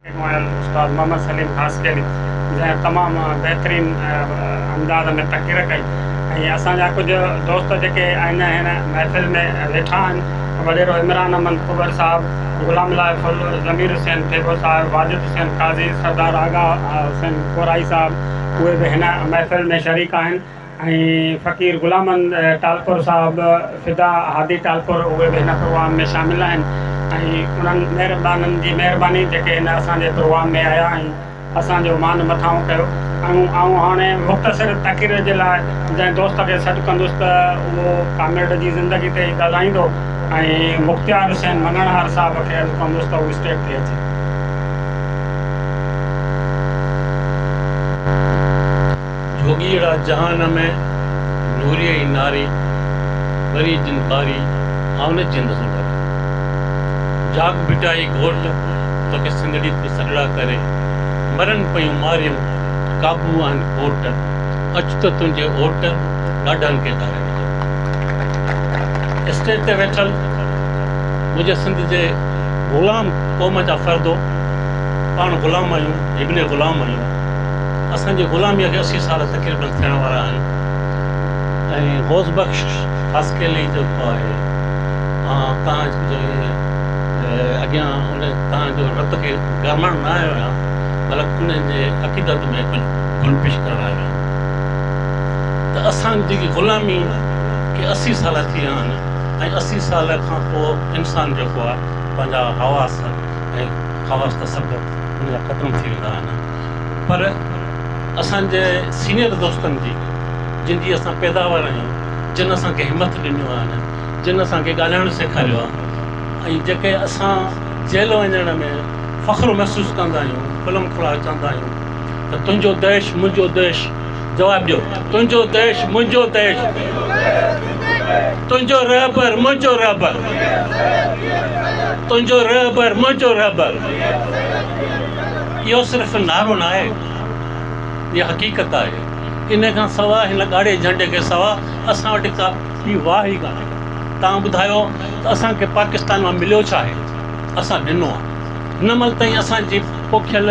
اڳ وڻيل استاد محمد سليم خاصخيلي جنهن تمام بهترين انداز ۾ تقرير ڪئي ۽ اسان جا ڪجهه دوست جيڪي آئنده هن محفل ۾ ويٺا آهن وڏيرو عمران احمد ڪٻر صاحب، غلام الله ڦل، ضمير حسين ٿيٻو صاحب، واجد حسين قاضي، سردار آغا حسين ڪورائي صاحب اهي به هن محفل ۾ شريڪ آهن. ۽ فقير غلامن ٽالپر صاحب، فدا هادي ٽالپر اهي به هن پروگرام ۾ شامل آهن ۽ انهن مهربانن جي مهرباني جيڪي هن اسان جي پروگرام ۾ آيا ۽ اسان جو مان مٿانهون ڪيو ۽ آئون هاڻي مختصر تقرير جي لاء جنهن دوست کي سڏ ڪندس ته اهو ڪامريڊ جي زندگي تي ئي ڳالهائيندو ۽ مختيار حسين مڱڻهار صاحب کي عرض ڪندس ته هو اسٽيج تي اچي. جوڳيئڙا جهان ۾ نوريء ئي ناري، ٻري جن ٻاري آئونج جي نسل ڀري. جاڳ ڀٽائي گهوٽ توکي سنڌڙي تي سڏڙا ڪري، مرن پيون ماريون قابو آهن ڪوٽ، اچ ته تنهنجي اوٽ ڏاڍن کي ڌاري ڏجان. اسٽيج تي ويٺل منهنجي سنڌ جي غلام قوم جا فردو، پاڻ غلام آهيون، ابن غلام آهيون. اسان جي غلاميء کي اسي سال تقريبن ٿيڻ وارا آهن ۽ غوث بخش خاصخيلي جيڪو آهي توهان جي اڳيان ان توهان جو رت کي گرمائڻ نه آيو آهيان بلڪ ان جي عقيدت ۾ گل پيش ڪرڻ آيو آهيان ته اسان جي غلامي کي اسي سال ٿي ويا آهن ۽ اسي سال کان پوء انسان جيڪو آهي پنهنجا حواس ۽ خواص ته سڀ ان جا ختم ٿي ويندا آهن پر اسان جي سينئر دوستن جي جن جي اسان پيداوار آهيون جن اسان کي همٿ ڏنيون آهن جن اسان کي ڳالهائڻ سيکاريو آهي ۽ جيڪي اسان جيل وڃڻ ۾ فخر محسوس ڪندا آهيون کلم کلا چوندا آهيون ته تنهنجو ديش منهنجو ديش جواب ڏيو تنهنجو طيش منهنجو طيش تنهنجو رهبر منهنجو رهبر تنهنجو رهبر منهنجو رهبر اهو صرف نعرو نه آهي اها حقيقت آهي ان کان سواء هن ڳاڙهي جهنڊي کي سواء اسان وٽ ڪا ٻي واهه ئي ڪانهي توهان ٻڌايو ته اسان کي پاڪستان مان مليو ڇا آهي اسان ڏنو آهي هن مهل تائين اسان جي پوکيل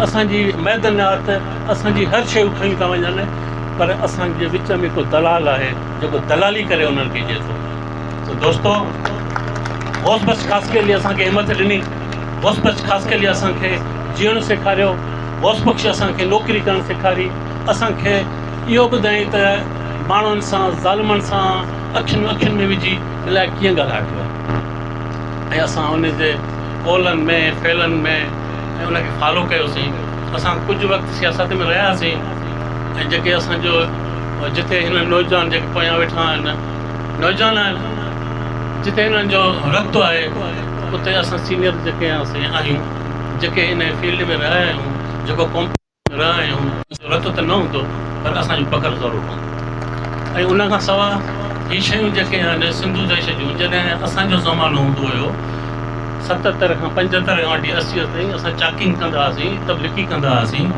اسان جي معدنيات اسان جي هر شيء کڻي ٿا وڃن پر اسان جي وچ ۾ ڪو دلال آهي جيڪو دلالي ڪري انهن کي ڏي ٿو ته دوستو غوث بخش خاصخيلي اسان کي همٿ ڏني غوث بخش خاصخيلي اسان کي جيئڻ سيکاريو غوث بخش اسان کي نوڪري ڪرڻ سيکاري اسان کي اهو ٻڌائين ته ماڻهن سان ظالمن سان اکين اکين ۾ وجهي الائي ڪيئن ڳالهائبو آهي ۽ اسان ان جي قولن ۾ فعلن ۾ ۽ ان کي فالو ڪيوسين اسان ڪجهه وقت سياست ۾ رهياسين ۽ جيڪي اسان جو جتي هن نوجوان جيڪي پويان ويٺا آهن نوجوان آهن جتي هنن جو رتبو آهي اتي اسان سينيئر جيڪي آهيون جيڪي ان فيلڊ ۾ رهيا آهيون جيڪو ڪوم رهيون. رتو ته نه هوندو پر اسان جو پگهر ضرور هوندو ۽ ان کان سواء هي شيون جيڪي آهن سنڌو ديش جون جڏهن اسان جو زمانو هوندو هيو ستتر کان پنجهتر کان وٺي اسي تائين اسان چاڪنگ ڪندا هئاسين تبليغي ڪندا هئاسين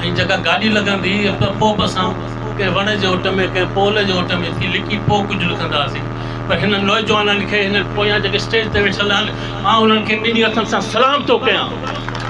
۽ جيڪا گاڏي لڳندي هئي ته پوء به اسان ڪنهن وڻ جي اوٽ ۾ ڪنهن پول جي اوٽ ۾ ٿي لڪي پوء ڪجهه لکندا هئاسين پر هنن نوجوانن کي هنن پويان جيڪي اسٽيج تي ويٺل آهن مان انهن کي ٻنهي هٿن سان سلام ٿو ڪيان.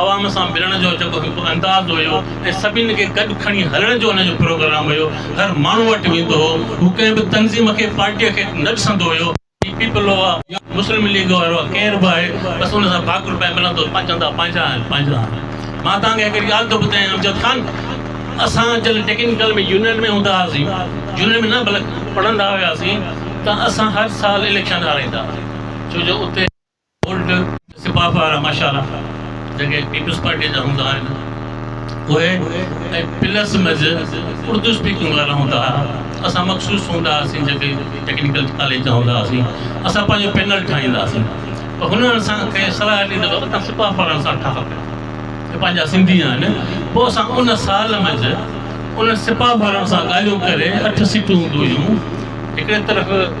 عوام سان ملڻ جو جيڪو هڪ انداز هيو ۽ سڀني کي گڏ کڻي هلڻ جو هن جو پروگرام هيو، هر ماڻهو وٽ ويندو هو، هو ڪنهن به تنظيم کي پارٽيء کي نه ڏسندو هيو، هي پيپلو آ يا مسلم ليگ وارو آ ڪير به آهي بس ان سان ڀاڪر پائي ملندو هو، پنهنجا چوندا پنهنجا آهن پنهنجا آهن. مان توهان کي هڪڙي ڳالهه ٿو ٻڌايان امجد خان اسان جڏهن ٽيڪنيڪل ۾ يونين ۾ هوندا هئاسين يونين ۾ نه بلڪ پڙهندا هياسين ته اسان هر سال اليڪشن هارائيندا هئاسين ڇو جو اتي اولڊ سپاهه وارا ماشاءالله جيڪي پيپلز پارٽي جا هوندا آهن اهي ۽ پلس مز اردو اسپيڪنگ وارا هوندا ها اسان مخصوص هوندا هئاسين جيڪي ٽيڪنيڪل ڪاليج جا هوندا هئاسين اسان پنهنجو پينل ٺاهيندا هئاسين ته هن اسان کي صلاح ڏني ته تون سپاهه وارن سان ٺاهه اهي پنهنجا سنڌي آهن پوء اسان ان سال مز انهن سپاهه وارن سان ڳالهيون ڪري اٺ سيٽون هونديون هيون هڪڙي طرف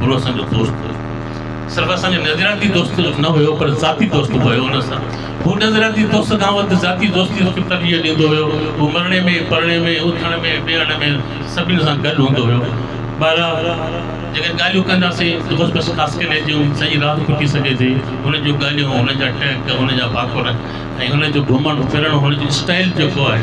گرو اسان جو دوست هو صرف اسان جو نظرياتي دوست نه هيو پر ذاتي دوست به هيو ان سان هو نظرياتي دوست کان وڌ ذاتي دوستي کي ترجيح ڏيندو هيو هو مرڻي ۾ پرڻي ۾ اٿڻ ۾ ويهڻ ۾ سڀني سان گڏ هوندو هيو بهرحال جيڪڏهن ڳالهيون ڪنداسين ته بس بس خاص ڪري جون سڄي رات ڦٽي سگهي ٿي هن جون ڳالهيون هن جا ٽهڪ هن جا ڀاڪر ۽ هن جو گهمڻ ڦرڻ هن جو اسٽائل جيڪو آهي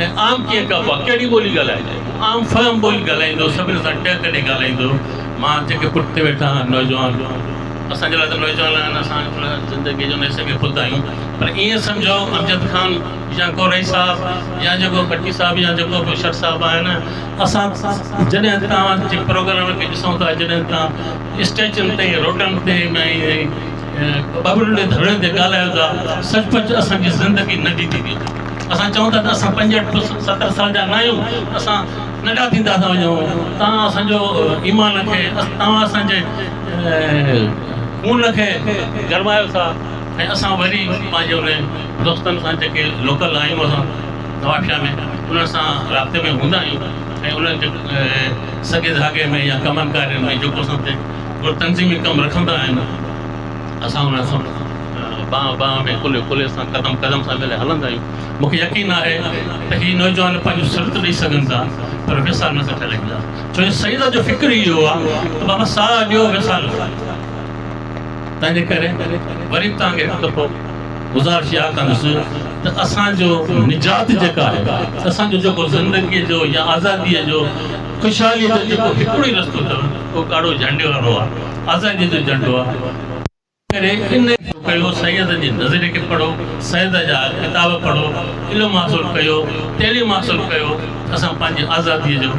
۽ عام ڪيئن ڪبو آهي، ڪهڙي ٻولي ڳالهائجي؟ هو عام فهم ٻولي ڳالهائيندو، سڀني سان ٽهڪ ڏئي ڳالهائيندو. مان جيڪي پٺتي ويٺا آهن نوجوان، اسان جي لاء ته نوجوان آهن، اسان ته زندگيء جو نيسه ۾ خود آهيون، پر ائين سمجهو امجد خان يا ڪو رئيس صاحب يا جيڪو ڀٽي صاحب يا جيڪو به شر صاحب آهن، اسان جڏهن توهان جي پروگرام کي ڏسون ٿا، جڏهن توهان اسٽيجن تي، روڊن تي ۽ ٻه ٻه ٽي ٽي ڌرڻين تي ڳالهايو ٿا، سچ پچ اسان جي زندگي ننڍي ٿي ويئي. اسان چئون ٿا ته اسان پنجهٺ پلس ستر سال جا نه آهيون اسان ننڍا ٿيندا ٿا وڃون توهان اسان جو ايمان کي توهان اسان جي خون کي گرمايو ٿا ۽ اسان وري پنهنجي انهن دوستن سان جيڪي لوڪل آهيون اسان نوابشاهه ۾ انهن سان رابطي ۾ هوندا آهيون ۽ انهن جي سڳي ڌاڳي ۾ يا ڪمن ڪارين ۾ جيڪو اسان تي تنظيمي ڪم رکندا آهن اسان انهن سان ٻانهن ٻانهن ۾ ڪلهي ڪلهي سان قدم قدم سان ملي هلندا آهيون. مون کي يقين آهي ته هي نوجوان پنهنجون سرت ڏئي سگهن ٿا پر ويسار نه ٿا ٺلهيندا ڇو جو سيد جو فڪر ئي اهو آهي ته بابا ساهه ڏيو ويسار نه ڪريو تنهنجي ڪري وري به توهان کي هڪ دفعو گذارش اها ڪندس ته اسان جو نجات جيڪا آهي اسان جو جيڪو زندگي جو يا آزادي جو خوشحاليء جو جيڪو هڪڙو ئي رستو اٿو اهو ڪارو جهنڊي وارو آهي، آزاديء جو جهنڊو آهي، تنهنڪري ان کي پڌرو ڪيو، سيد جي نظريي کي پڙهو، سيد جا ڪتاب پڙهو، علم حاصل ڪيو، تعليم حاصل ڪيو ته اسان پنهنجي آزاديء جو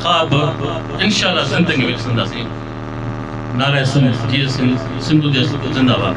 خواب انشاء الله زندگيء ۾ ڏسنداسين. نعره سنڌ جيئي سنڌ، سنڌو ديس زنده باد.